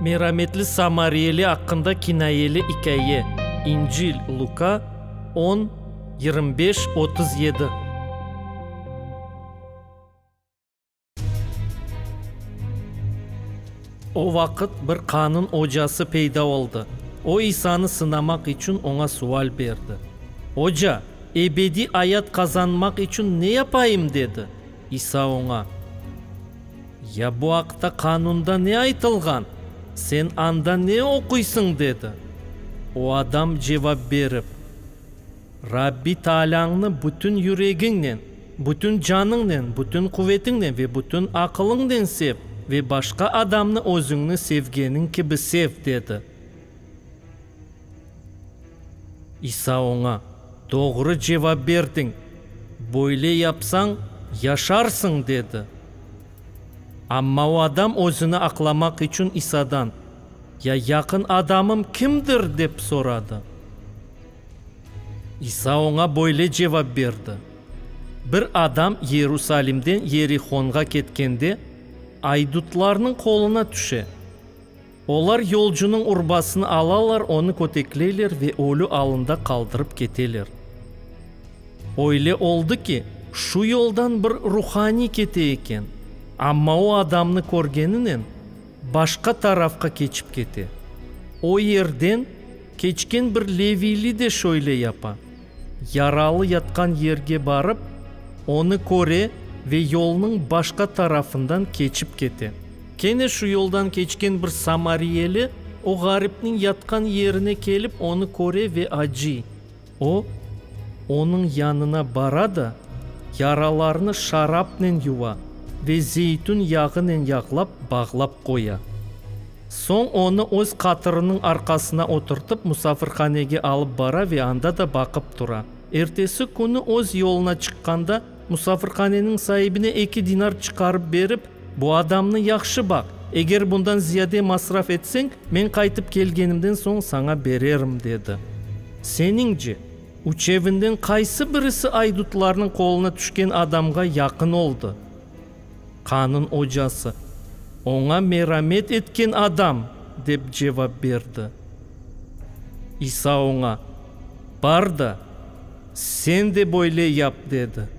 Merametli samariyeli aqqında kinayeli ikâye, İncil, Luka, on, yirmi beş, otuz yedi. O vaqıt bir qanun ocası peyda oldı. O İsanı sınamaq içün oña sual berdi. Oca, ebediy ayat qazanmaq içün ne yapayım? dedi. İsa oña, Ya bu aqta qanunda ne aytılğan? Sen anda ne oquysıñ? dedi. O adam cevap berip, Rabbi Taalâñnı bütün yüregiñnen, bütün canıñnen, bütün quvetiñnen ve bütün aqılıñnen sev ve başqa adamnı özüñni sevgeniñ kibi sev, dedi. İsa oña, Doğru cevap berdiñ, böyle yapsañ, yaşarsıñ, dedi. Amma o adam özüni aqlamaq içün İsadan, Ya yaqın adamım kimdir? dep soradı. İsa oña böyle cevap berdi, Bir adam Yerusalimden Yerihonğa ketkende, aydutlarnıñ qoluna tüşe. Olar yolcunıñ urbasını alalar, onı kötekleyler ve ölü alında qaldırıp keteler. Öyle oldı ki, şu yoldan bir ruhaniy kete eken, amma o adamnı körgeninen, başqa tarafqa keçip kete. O yerden keçken bir leviyli de şöyle yapa, Yaralı yatqan yerge barıp, onı köre ve yolnıñ başqa tarafından keçip kete. Kene şu yoldan keçken bir samariyeli o ğaripniñ yatqan yerine kelip, onı köre ve acıy. O, onıñ yanına bara da, yaralarını şarapnen yuva ve zeytün yağınen yağlap, bağlap qoya. Soñ onı öz qatırınıñ arqasına oturtıp musafirhanege alıp bara ve anda da baqıp tura. Ertesi künü öz yoluna çıqqanda, musafirhaneniñ saibine eki dinar çıqarıp berip, Bu adamnı yahşı baq, eger bundan ziyade masraf etseñ, men qaytıp kelgenimden soñ saña bererim, dedi. Seniñce, üçevinden qaysı birisi aydutlarnıñ qoluna tüşken adamğa yaqın oldı? qanın ocası, oña meramet etken adam, dep cevap berdi. İsa oña, Bar da, sen de böyle yap, dedi.